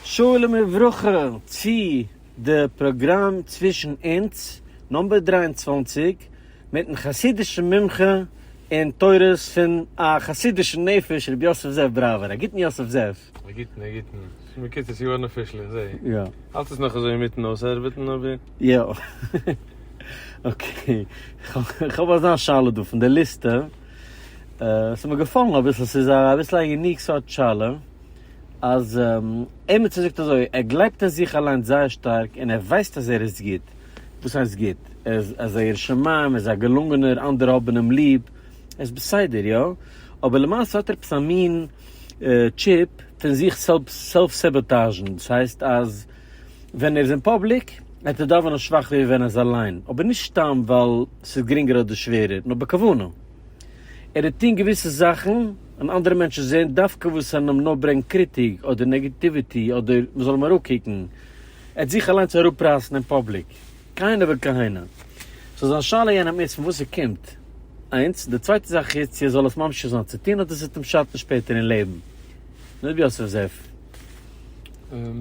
שלום וברכה צו די פראגראם צווישן אונז נאמבער דרײַ און צוואַנציק מיטן חסידישן מומחה אין תורות פון א חסידישן נפש ר' יוסף זאב בראווער, א גוטן יוסף זאב. א גוטן א גוטן, מקוצר יארן אפישל איך זעה. יא. האלט עס נאך אזוי אינמיטן אויסארבעטן אבער. יא. אקעי. כ'האב אזא שאלה דא פון די ליסטע. ס'איז מיר געפאלן אביסל, ס'איז אביסל א יוניק סארט שאלה. אז עימיצער זאגט אזוי, ער גלייבט אין זיך אליינס זייער שטארק און ער ווייסט אז ער איז גוט, וואס הייסט גוט? ער איז אזא ירא שמים, ער איז א געלונגענער, אנדערע האבן אים ליב, ער איז בסדר, יא? אבער למעשה האט ער עפעס א מין טשיפ פון זיך סעלף סעבאטאזשן, דאס הייסט אז ווען ער איז אין פאבליק וועט ער דאווענען שוואכער ווי ווען ער איז אליין, אבער נישט סתם ווייל ס'איז גרינגער אדער שווערער, נאר בכוונה. ער האט טון געוויסע זאכן און אנדערע מענטשן זעהן דווקא וואס אין אים נאר ברענגט קריטיג אדער נעגעטיוויטי אדער מ'זאל אים אראפקוקן, ער האט זיך אליינס אראפרייסן אין פאבליק, כהנה וכהנה. סאו זיין שאלה יענע מינוט פון וואס ס'קומט, איינס, די צווייטע זאך איז צו ער זאל עס ממשיך זיין צו טון אדער ס'וועט אים שאטן שפעטער אין לעבן. ר' יוסף זאב.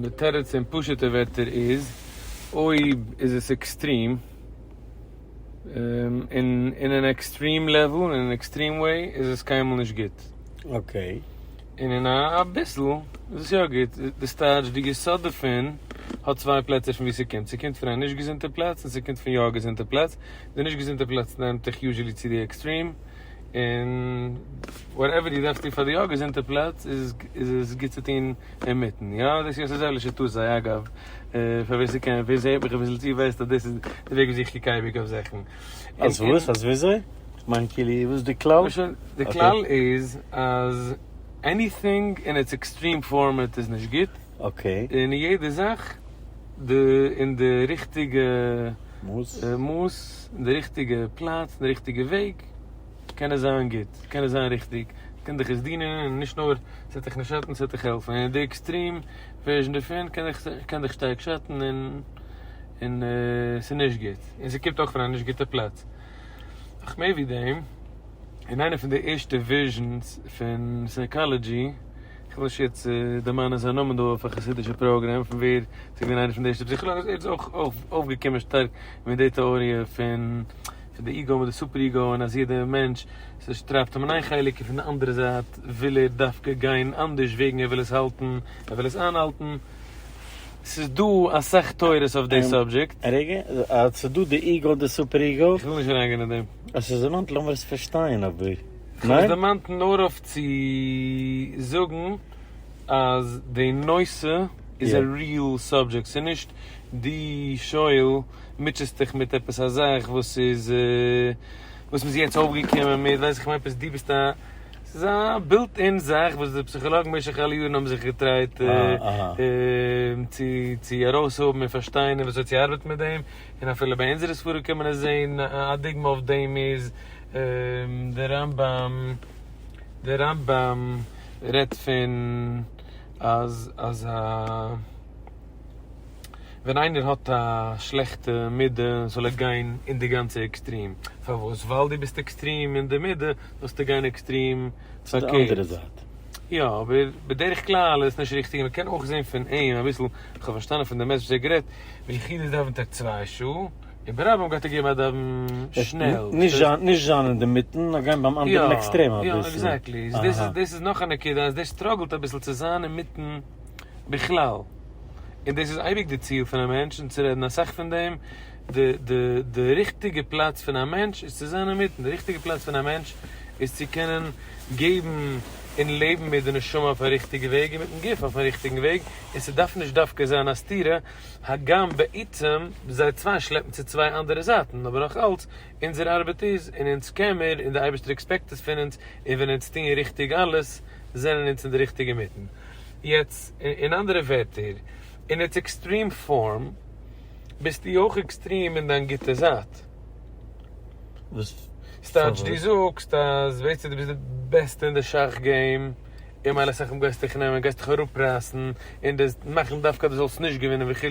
די תירוץ אין פשוט'ע ווערטער איז, אויב איז עס עקסטרים. און אין אן עקסטרים לעוול און אין אן עקסטרים וועי איז עס קיינמאל נישט גוט. אקעי. און אין א אביסל איז עס יא גוט. די סטארטש, די יסוד דערפון, האט צוויי פלעצער פון וואו ס'קומט. ס'קומט פון א נישט געזונטע פלאץ און ס'קומט פון יא א געזונטע פלאץ. די נישט געזונטע פלאץ נעמט דיך יוזשעלי צו די עקסטרים. און וואט עווער די דארפסט טון פאר די יא געזונטע פלאץ איז עס גוט צו טון אינמיטן יא דאס איז אזוי לשיטות זיי אגב פאר ווער ס'קען ווער ס'הערט מיך אביסל צו ווייסט אז דאס איז די וועג וויאזוי איך קוק אייביג אויף זאכן אז וואס אז וויאזוי? כ'מיין כאילו וואס איז די כלל? די כלל איז אז עניטינג אין איטס עקסטרים פארמעט איז נישט גוט. אקעי. און יעדע זאך די אין די ריכטיגע מאס. מאס, אין די ריכטיגע פלאץ, אין די ריכטיגע וועג, קען עס זיין גוט, קען עס זיין ריכטיג, קען דיך עס דינען, און נישט נאר ס'וועט דיך נישט שאטן, ס'וועט דיך העלפן, און די עקסטרים ווערזשן דערפון קען דיך קען דיך שטארק שאטן, און און ס'איז נישט גוט, און ס'קומט אויך פון א נישט גוטע פלאץ. נאך מער ווי דעם, אין איינע פון די ערשטע ווערזשנס פון סייקאלעדזשי, כ'וועל נישט יעצט דערמאנען זיין נאמען דא אויף א חסידישע פראגרעם פון ווער ס'איז געווען איינער פון די ערשטע פסיכאלאגן, ער איז אויך אויפגעקומען שטארק מיט די טעאריע פון פון די איגו מיט די סופער איגו און אז יעדע מענטש ס'טרייבט אים אין איין חלק און פון די אנדערע זייט וויל ער דווקא גיין אנדערש וועגן ער וויל עס האלטן, ער וויל עס איינהאלטן. ס'איז דא אסאך תורות אויף די סאבדזשעקט. רגע, ס'איז דא די איגו די סופער איגו. כ'וויל נישט אריינגיין אין דעם. עס איז רעלעוואנט לאמיר עס פארשטיין אבער. איך האב עס דערמאנט נאר אויף צו זאגן אז די נושא איז א ריעל סאבדזשעקט, ס'איז נישט דו שואל מוטשעסט דיך מיט עפעס א זאך וואס איז וואס מ'איז יעצט אויפגעקומען מיט, ווייס איך עפעס דו ביסט א, ס'איז א בילט אין זאך וואס די פסיכאלאגן במשך אלע יארן האבן זיך געטרייט צו ארויסהאבן און פארשטיין און וויאזוי צו ארבעטן מיט דעם, און אפילו ביי אונזערע ספרים קען מען עס זען, א דוגמא אויף דעם איז. דער רמב ם, דער רמב ם רעדט פון אז אז א ווען איינער האט א שלעכטע מידה זאל ער גיין אין די גאנצע עקסטרים, פארוואס? ווייל דו ביסט עקסטרים אין די מידה זאלסטו גיין עקסטרים פארקערט, יא אבער בדרך כלל איז עס נישט ריכטיג, מ'קען אויך זען פון אים אביסל, כ'האב פארשטאנען פון די מעשה וואס ער האט גערעדט, ווען יחיד איז דאווענט ער צוויי שעה. און ברבים גייט ער געבן א דאווען שנעל. נישט זיין נישט זיין אינדערמיטן נאר גיין ביים אנדערן עקסטרעם אביסל. יא עקזעקטלי. אהה. דאס איז דאס איז נאך א נקודה אז דער סטראגלט אביסל צו זיין אינמיטן בכלל. און דאס איז אייביג די ציל פון א מענטש און צו רעדן אסאך פון דעם. די די די ריכטיגע פלאץ פון א מענטש איז צו זיין אינמיטן. די ריכטיגע פלאץ פון א מענטש איז צו קענען געבן און לעבן מיט די נשמה אויף א ריכטיגע וועג און מיטן גוף אויפן ריכטיגן וועג. און ס'דארף נישט דווקא זיין א סתירה. הגם בעצם זיי צוויי שלעפן צו צוויי אנדערע זייטן, אבער נאך אלץ, אונזער ארבעט איז, און אונז קען מיר, און די אייבערשטער עקספעקט עס פון אונז, און ווען אונז טוען ריכטיג אלעס, זענען אונז אין די ריכטיגע מיטן. יעצט, אין אנדערע ווערטער, אין איטס עקסטרים פארם, ביסטו אויך עקסטרים אין דיין גוטע זייט. וואס? סטייטש דו זאגסט אז בעצם דו ביסט די בעסטע אין די שאך געים. און מיין לסכם גייסטו דיך נעמען, גייסטו דיך אראפרייסן, און דאס מאכן דווקא דו זאלסט נישט געווינען וכו',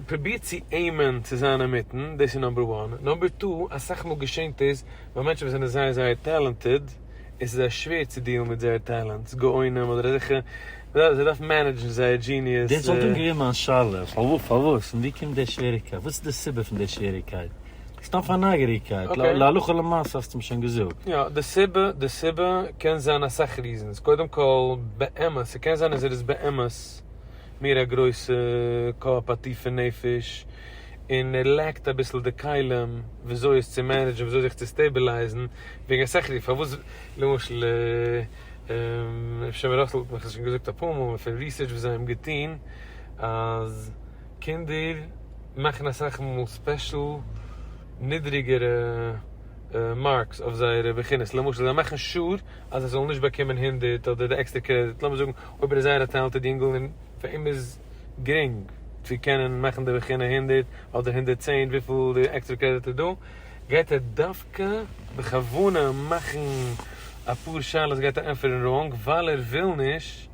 פרוביר צו עימען צו זיין אינמיטן, דאס איז נאמבער וואן, נאמבער טו, אסאך מאל געשענט עס ביי מענטשן וואס זענען זייער זייער טעלענטעד, און ס'איז זיי שווער צו דיעלן מיט זייער טעלענטס, גאונים אדער אזעלכע, זיי דארפן מענעדזשן זייער דזשיניעס. דאס וואלט דאן געווען מיין שאלה, פארוואס, און ווי קומט די שוועריגקייט, וואס איז די סיבה פון די שוועריגקייט? סתם פאר נייגעריגקייט, להלכה למעשה האסטו מיר שוין געזאגט. יא, די סיבה, די סיבה קען זיין אסאך ריזענס, קודם כל, באמת, ס'קען זיין אז ער איז באמת מער א גרויסע קאפ, א טיפע נפש, און ער לעקט אביסל די כלים וויאזוי עס צו מענעדזשן, וויאזוי זיך צו סטעבילייזן, וועגן אסאך ריזענס, פארוואס, למשל, אפשר מ'ראסלט מיך, כ'האב שוין געזאגט אפאר מאל, פון ריסערטש וואס זיי האבן געטון, אז. קינדער מאכן אסאך מאל ספעשל נידריגערע מארקס אויף זייערע בחינות, למשל זיי מאכן שור אז ער זאל נישט באקומען הונדערט אדער די עקסטער קרעדיט, לאמיר זאגן אויב ער איז זייער א טעלענטעד יונגל און פאר אים איז גרינג צו קענען מאכן די בחינה הונדערט אדער הונדערט צען וויפיל די עקסטערע קרעדיט איז דא, גייט ער דווקא בכוונה מאכן אפאר שאלות גייט ער ענטפערן ראנג ווייל ער וויל נישט.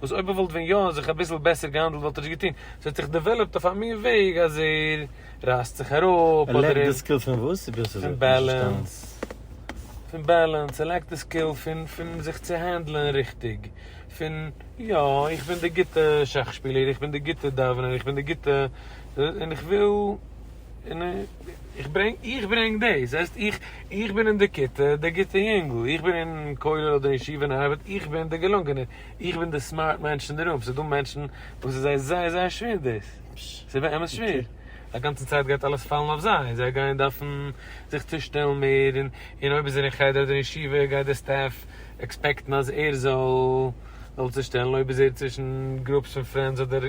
וואס אויב ער וואלט ווען יא זיך אביסל בעסער געהאנדלט וואלט ער נישט געטון, ס'האט זיך דעוועלאפט אויף א מין וועג אז ער רייסט זיך אראפ, ער לעקט די סקיל פון וואס? איך בין נישט אזוי פון פון בעלענס, ער לעקט די סקיל פון פון זיך צו הענדלען ריכטיג, פון יא איך בין די גוטע שאך שפילער, איך בין די גוטע דאווענער, איך בין די גוטע, און איך וויל, און. איך ברענג, איך ברענג דאס, זעסט, איך, איך בין אין די כיתה דער גוטער יונגל, איך בין אין כולל אדער ישיבה און ארבעט, איך בין דער געלונגענער, איך בין די סמארט מענטש אין די רום, ס'איז דא מענטשן וואס איז זיי זייער זייער שווער דאס, ס'איז באמת שווער, א גאנצע צייט גייט אלעס פאלן אויף זיי, זיי גייען דארפן זיך צושטעלן מער, און, און אויב איז ער אין חדר אדער ישיבה גייט דער סטעף עקספעקטן אז ער זאל, זאל צושטעלן, אויב איז ער צווישן גרופס פון פרענדס אדער.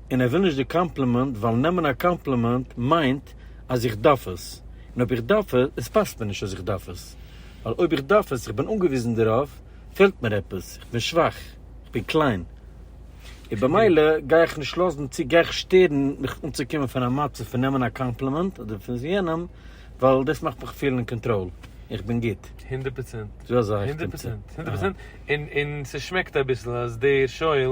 און ער וויל נישט די קאמפלימענט ווייל נעמען א קאמפלימענט מיינט אז איך דארף עס, און אויב איך דארף עס, עס פאסט מיר נישט אז איך דארף עס, ווייל אויב איך דארף עס, איך בין אנגעוויזן דערויף, פעלט מיר עפעס, איך בין שוואך, איך בין קליין, און במילא גיי איך נישט לאזן צו, גיי איך שטערן מיך אנצוקומען פון א מצב פון נעמען א קאמפלימענט אדער פון יענעם, ווייל דאס מאכט מיך פילן אין קאנטראל, איך בין גוט. הונדערט פראצענט. זו אזא איך בין צו. הונדערט פראצענט. הונדערט פראצענט. און ס'שמעקט אביסל אז דער שואל.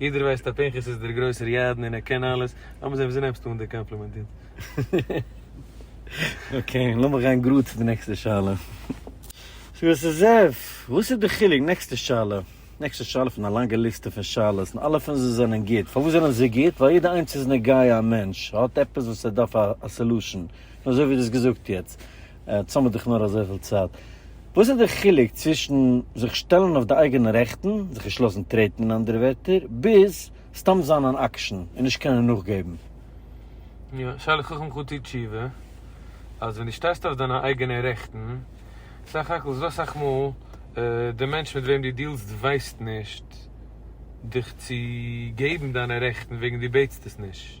יעדער ווייסט אז פנחס איז דער גרויסער ידען און ער קען אלעס, לאמיר זען וויאזוי נעמסטו אן די קאמפלימענט יעצט. אקעי, לאמיר גיין גראד צו די נעקסטע שאלה. ס'איז עס איז עס, וואס איז די חילוק? נעקסטע שאלה. נעקסטע שאלה פון א לאנגע ליסטע פון שאלות, און אלע פון זיי זענען גוט. פארוואס זענען זיי גוט? ווייל יעדע איינס איז נוגע א מענטש, ער האט עפעס וואס ער דארף א סעלושען, און אזוי ווי דו האסט געזאגט יעצט, עטס האמיר דאך נאר אזויפיל צייט. וואס איז דער חילוק צווישן זיך שטעלן אויף די אייגענע רעכטן, זיך נישט לאזן טרעטן אין אנדערע ווערטער, ביז סתם זיין אן אקשן און נישט קענען נאכגעבן? יא, שאלה חכם חו טוט תשובה, אז ווען דו שטייסט אויף דיינע אייגענע רעכטן, סך הכל איז דא אסאך מאל די מענטש מיט וועם דו דיעלסט ווייסט נישט דיך צו געבן דיינע רעכטן וועגן דו בעטסט עס נישט.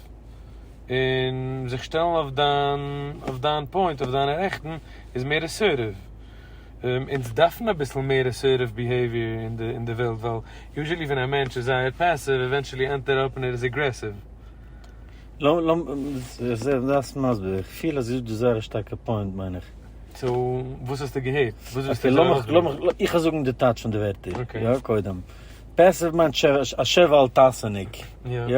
פארקערט, און זיך שטעלן אויף דיין, אויף דיין פוינט, אויף דיינע רעכטן, איז מער אסערטיוו. אונז דארפן אביסל מער אסערטיוו ביהעיוויער אין די, אין די וועלט, ווייל יוזשעלי ווען א מענטש איז זייער פעסיוו, עווענטשעלי ענדט ער אפ און ער איז אגרעסיוו. לאמ, לאמ, איך זע דארפסט מסביר, איך פיל אז דאס איז זייער א שטארקע פוינט מיין איך. סאו, וואס האסטו געהערט? וואס ווילסטו איך זאל ארויסברענגען? אקעי, לאמיך, לאמיך, איך וועל זאגן די טייטש פון די ווערטער, יא, קודם. פעסיוו מיינט ש, א שב ואל תעשה'ניק, יא?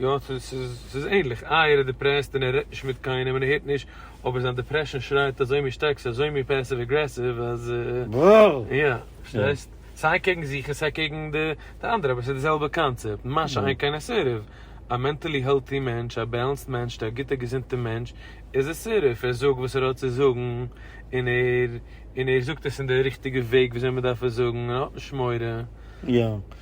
יא ס'איז ענליך, איי ער איז דיפרעסט און ער רעדט נישט מיט קיינעם און ער הערט נישט, אבער זיין דיפרעשאן שרייט אזוי מין שטארק, ס'איז אזוי מין פעסיוו אגרעסיוו אז. ברור! יא, פארשטייסט? סיי קעגן זיך און סיי קעגן די אנדערע, אבער ס'איז די זעלבע קאנצעפט, משא כ אין א סירוב, א מענטעלי העלטי מענטש, א בעלענסד מענשט, א גוטע געזונטע מענטש, איז עס סירוב, ער זאגט וואס ער האט צו זאגן, און ער, און ער זאגט עס אין די ריכטיגע וועג וויאזוי מ'דארף עס זאגן, און ער האט נישט מורא. יא.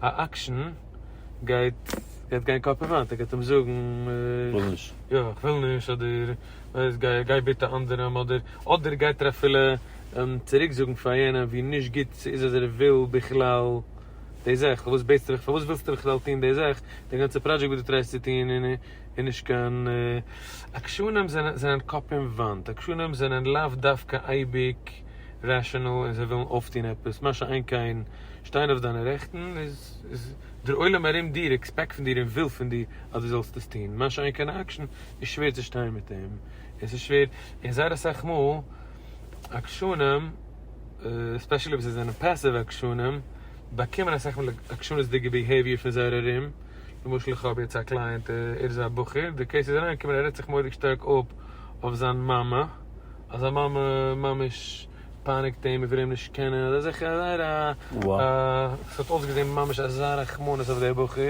א אקשען גייט גייט גיין קאפ אין וואנט ער גייט אים זאגן כ'וויל נישט יא כ'וויל נישט אדער ווייסט גיי גיי ביטע אנדערעם אדער אדער גייט ער אפילו צוריק זאגן פאר יענעם ווי נישט גוט ס'איז אז ער וויל בכלל די זאך פארוואס בעטסטו מיך פארוואס ווילסטו מיך בכלל טון די זאך די גאנצע פראדזשעקט וואס דו טרייסט צו טון איז איז נישט קיין עקשנים זענען זענען קאפ אין וואנט עקשנים זענען לאו דווקא אייביג. רעשענעל און זיי ווילן אויפטון עפעס, מה שאין כן שטיין אויף דיינע רעכטן איז דער עולם ארום דיר עקספעקט פון דיר און וויל פון דיר אז דו זאלסט עס טון, מה שאין כן אקשן איז שווער צו שטיין מיט אים און ס'איז שווער און זייער אסאך מאל עקשנים עספעשעלי וואס זיי זענען פעסיוו עקשנים באקומען אסאך מאל עקשנות'דיגע ביהעיוויער פון זייער ארום, למשל איך האב יעצט א קלייענט ער איז א בחור די קעיס איז אריינגעקומען ער רעדט זיך מורא'דיג שטארק אפ אויף זיין מאמע. אז זיין מאמע ממש פייניגט אים און וויל אים נישט קענען, און אזוי זאכן, זייער א, ס'האט אויסגעזען ממש אזא רחמנות אויף דער בחור,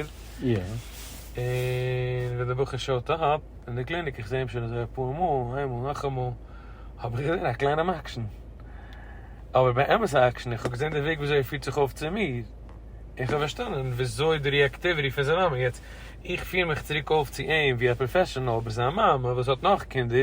און ווען דער בחור שאוט אפ אין די קליניק, איך זע אים שוין אזוי אפאר מאל, איינמאל נאכאמאל, האב איך געזען א קליינעם עקשן, אבער באמת א עקשן, איך האב געזען די וועג וויאזוי ער פירט זיך אויף צו מיר, און איך האב פארשטאנען וויאזוי די ריעקטיוויטי פון זיין מאמע, יעצט איך פיר מיך צוריק אויף צו אים ווי א פראפעשענאל, אבער זיין מאמע וואס האט נאך קינדער,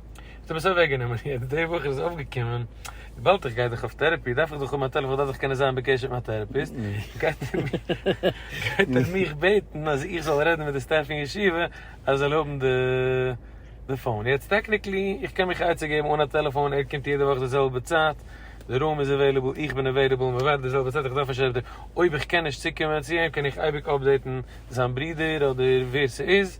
האט ער עס אוועק גענומען, יעצט די וואך איז עס אויף געקומען, וויבאלד איך גיי דאך אויף טערעפי דארף איך דאך האבן א טעלעפאן דארף איך קענען זיין בקשר מיט מיין טערעפיסט, גייט ער גייט ער מיך בעטן אז איך זאל רעדן מיט די סטעף פון ישיבה אז ער זאל האבן די די פאון, יעצט טעקניקלי איך קען מיך עצה געבן אן א טעלעפאן, ער קומט יעדע וואך די זעלבע צייט, די רום איז עוועליבעל, איך בין עוועליבעל, מען ווארט די זעלבע צייט, איך דארף נישט אויב איך קען נישט צוקומען צו אים קען איך אייביג אפדעיטן זיין ברודער אדער ווער ס'איז.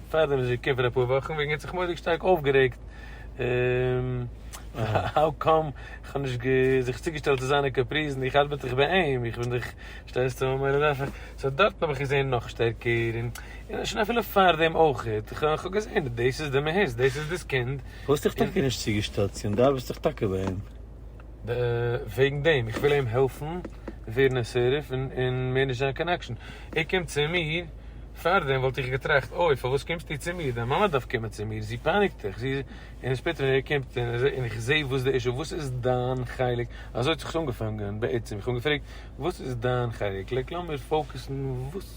פארדעם איז ער כופר אפאר וואכן וועגן ער האט זיך מורא'דיג שטארק אויפגערעגט האו קאם כ'האב נישט זיך צוגעשטעלט צו זיינע קאפריזן איך ארבעט דאך ביי אים איך בין דאך שטייסט צו מיין מראה דארף איך סאו דארטן האב איך געזעהן נאך שטערקער און און שוין אפילו פארדעם אויכעט כ'האב געזעהן דאס איז די מהות דאס איז דאס קינד. האסט דיך טאקע נישט צוגעשטעלט צו אים דו ארבעסט דאך טאקע ביי אים. וועגן דעם איך וויל אים העלפן ווערן א סעריף און מער נישט זיין קיין עקשן, ער קומט צו מיר, פארדעם וואלט איך געטראכט אוי פארוואס קומסטו צו מיר, דיין מאמע דארף קומען צו מיר, זי פייניגט דיך, זי און שפעטער ווען ער קומט און איך זעה וואס די אישו, וואס איז דיין חלק, אזוי האט זיך עס אנגעפאנגען בעצם, איך האב אים געפרעגט וואס איז דיין חלק, לייק לאמיר פאוקעסן וואס.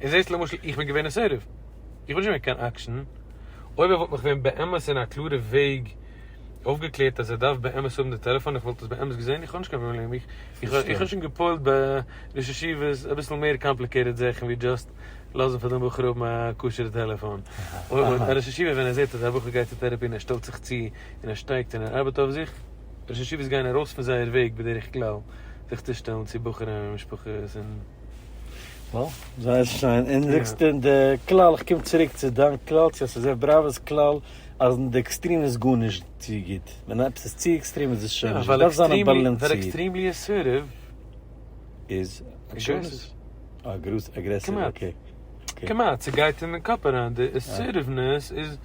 און זעסט למשל איך בין געווען אין סערעוו, איך בין נישט געווען קיין אקשן, אויב ער וואלט מיך ווען באמת אין א קלארע וועג אויפגעקלערט אז ער דארף באמת האבן די טעלעפאן איך וואלט עס באמת געזען, איך האב נישט קיין פראבלעם, איך האב שוין געפועלט ביי ראש ישיבות אביסל מער קאמפליקעיטעד זאכן ווי דשאסט לאזן פאר דעם בחור האבן א כשר'ע טעלעפאן, און א ראש ישיבה ווען ער זעט אז א בחור גייט צו טערעפי און ער שטעלט זיך צו און ער שטייגט און ער ארבעט אויף זיך, ראש ישיבות גייען ארויס פון זייער וועג בדרך כלל זיך צושטעלן צו בחורים און משפחות און. וואו? זייער שיין, און זאגסט אין די כלל, איך קום צוריק צו דיין כלל, צו יוסף בראווער'ס כלל, אז אין די עקסטרים איז גארנישט צו גוט, ווען עפעס איז צו עקסטרים איז עס שוין נישט גוט, דארף זיין באלאנסירט. ווייל עקסטרימלי אסערטיוו איז אגרעסיוו. אגרעסיוו, אגרעסיוו, אקעי. כמעט, כמעט, ס'גייט אין די קאפ אריין, די אסערטיוונעס איז,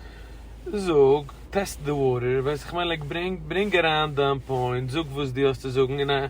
זאג, טעסט די וואטער, ווייסט איך מיין, לייק, ברענג, ברענג אריין דיין פוינט, זאג וואס דו האסט צו זאגן, און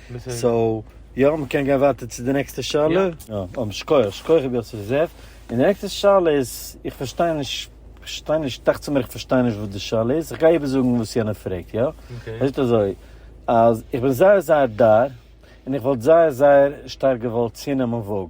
סאו יא מ'קען גיין ווייטער צו די נעקסטע שאלה. און שכוח, שכוח ר' יוסף זאב. און די נעקסטע שאלה איז, איך פארשטיי נישט, פארשטיי נישט, דאכצעך מיר איך פארשטיי נישט וואס די שאלה איז, איך גיי איבערזאגן וואס יענער פרעגט יא. ער זאגט אזוי, אז איך בין זייער זייער דאר, און איך וואלט זייער זייער שטארק געוואלט צונעמען וואג.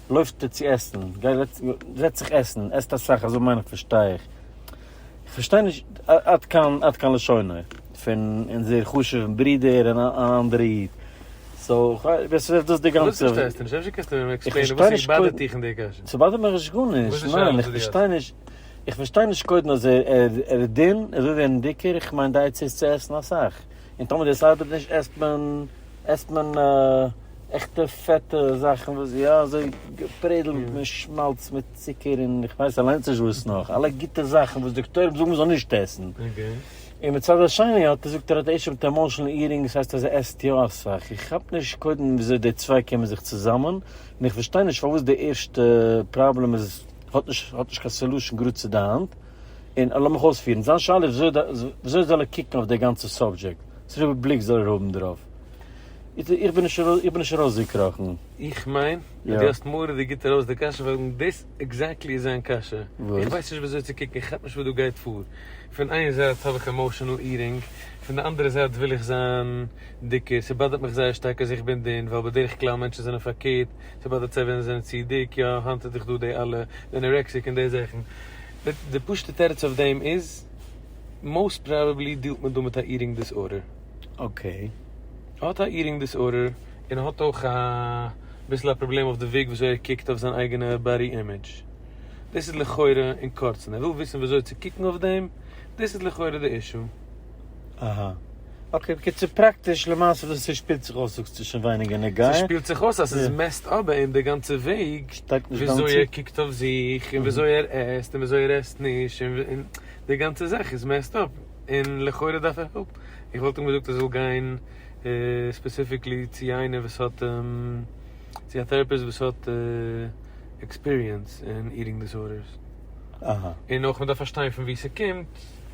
לויפט ער צו עסן, זעצט זיך עסן, עסט אסאך, אזוי מיין איך פארשטיי איך. איך פארשטיי נישט עד כאן לשוני פון אונזער חשוב'ן ברודער און אן אנדערע איד. וואס איז דאס די גאנצע? איך פארשטיי נישט קודם. ס'באדערט מיך נישט גארנישט. ניין, איך פארשטיי נישט. איך פארשטיי נישט קודם אז ער איז דין, אזוי ווי ער אין דיקער, איך מיין די עצה איז צו עסן אסאך. און טאמער דאס ארבעט נישט עסט מען עסט מען עכטע פעטע זאכן וואס איז יא אזוי געפרעדלט מיט שמאלץ מיט צוקער און איך ווייס אליינס נישט וואס נאך, אלע גוטע זאכן וואס דאקטוירים זאגן מען זאל נישט עסן, און מצד השני האט ער זאגט ער האט ערשט אויף די עמאושענעל איעטינג דאס הייסט אז ער עסט יא אסאך, איך כאפ נישט קודם וויאזוי די צוויי קומען זיך צוזאמען, און איך פארשטיי נישט פארוואס די ערשטע פראבלעם איז האט נישט האט נישט קיין סעלושען גראד צו די האנט. און לאמיך אויספירן, זיין שאלה איז וויאזוי זאל ער קוקן אויף די גאנצע סאבדזשעקט, וואספארא בליק זאל ער האבן דערויף, איך בין נישט ארויסגעקראכן. איך מיין אז דו האסט מורא'דיג גוט ארויס די קשיא, ווייל דאס עקזעקטלי איז זיין קשיא, איך ווייס נישט וויאזוי צו קוקן, איך כאפ נישט וואס דא גייט פאר, פון איין זייט האב איך עמאושענעל איטינג, פון די אנדערע זייט וויל איך זיין דיקער, ס'באדערט מיך זייער שטארק אז איך בין דין, ווייל בדרך כלל מענטשן זענען פארקערט, ס'באדערט זיי ווען זיי זענען צו דיק, יא, היינט איז דאך דא די אלע די אנארעקסיק און די זאכן. די פשוט'ע תירוץ אויף דעם איז, מאוסט פראבעבלי דילט מען דא מיט א איטינג דיסארדער. אקעי. ער האט א איטינג דיסארדער, און ער האט אויך א ביסל א פראבלעם אויף די וועג ווי אזוי ער קוקט אויף זיין אייגענע באדי אימעדזש. דאס איז לכאורה אין קורצן. ער וויל וויסן ווי אזוי צו קוקן אויף דעם, דאס איז לכאורה די אישו. אהא. אקעי בקיצור פראקטיש למעשה וואס ס'שפילט זיך אויס זאגסטו שוין ווייניגער נוגע. ס'שפילט זיך אויס אז ס'איז מעסט אפ ביי אים די גאנצע וועג וויאזוי ער קוקט אויף זיך און וויאזוי ער עסט און וויאזוי ער עסט נישט און די גאנצע זאך איז מעסט אפ און לכאורה דארף ער העלפ. איך וואלט אים געזאגט ער זאל גיין ספעסיפיקלי צו איינער וואס האט צו א טעראפיסט וואס האט עקספיריענס אין איטינג דיסארדערס און אויך מ'דארף פארשטיין פון וואו ס'קומט.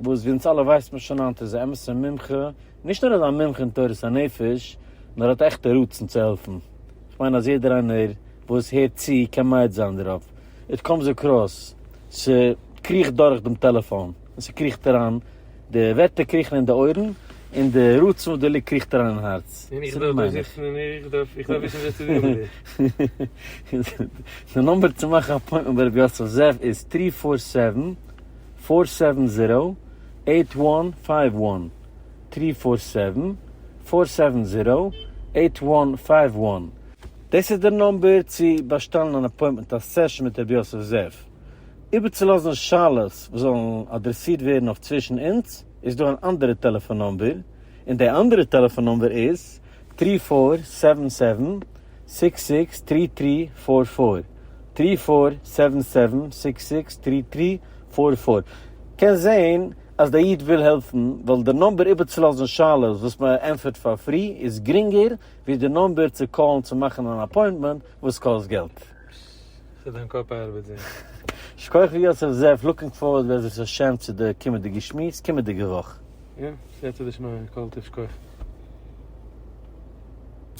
וואס ווי אונז אלע ווייסט מען שוין היינט איז א אמת'ע מומחה, נישט נאר איז א מומחה אין תורת הנפש, נאר האט עכטע רצון צו העלפן, איך מיין אז יעדער איינער וואס הערט צו קען מעיד זיין דערויף, איט קאמס אקראס, ס'קריכט דורך דעם טעלעפאן, און ס'קריכט אריין, די ווערטער קריכן אין די אויערן, און די רצון וואס דערליגט קריכט אריין אין הארץ, און דא מיין איך. די נומבער צו מאכן א אפוינטמענט ביי ר' יוסף זאב איז טרי פאר סעווען. פֿאָר סעווען זיראו עיט וואן פייוו וואן טרי פאר סעווען פאר סעווען זיראו עיט וואן פייוו וואן. דאס איז דער נומבער צו באשטעלן אן אפוינטמענט א סעשאן מיט רבי יוסף זאב. איבערצולאזן שאלות וואס זאלן אדרעסירט ווערן אויף צווישן אונז איז דא אן אנדערע טעלעפאן נומבער, און די אנדערע טעלעפאן נומבער איז טרי פאר סעווען סעווען סיקס סיקס טרי טרי פאר פאר טרי פאר סעווען סעווען סיקס סיקס טרי טרי פאר פאר קען זעהן אז דער איד וויל העלפן ווייל די נאמבער איבערצולאזן שאלות וואס מען ענפערט פאר פרי איז גרינגער ווי די נאמבער צו קאלן צו מאכן אן אפוינטמענט וואס קאסט געלט. ס'איז דיין קאפ ארבעט זיך. שכוח ר' יוסף זאב, לוקינג פארווארד בעזרת השם צו די קומענדיגע שמועס קומענדיגע וואך. יא, סייעתא דשמיא, קאלטע שכוח.